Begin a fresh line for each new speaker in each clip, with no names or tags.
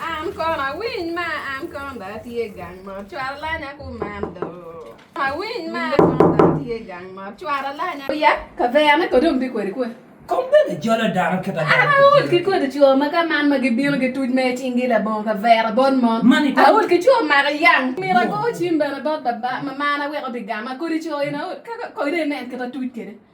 An kono awiny ma an kono dong atye gang mot cwara lanya kuman do awiny ma an kono dong atye gang mot cwara lanya oyak kaverne kodi ombi kweri kwe Kom bene jolo
dano kit adok An aol ki kodi coo
ma ka man ma gibino gituc ma icinggi labongo kavera bot mon Man ito. Aol ki coo
maka yang
myero ago cim bene bot baba ma marna wek obigama kodi coo in aol ka kodi inen kit atuc kede.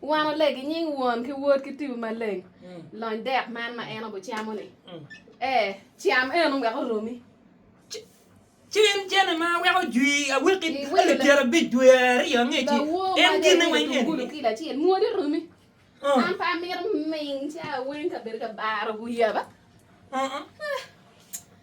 Wan oleg i nying Won ki Wod ki Tibu Maleng. Lony dek man ma en obucamo-ni. Ee, cam eno wek oromi.
Cen cene ma weko jwi awiki alip pyerabic
dwe aryo
angeci en gine
weng eni.
Gulu
kilo
acel
mwodi
oromi.
An pe amito ming ca weng kabedo ka baro wi yaba.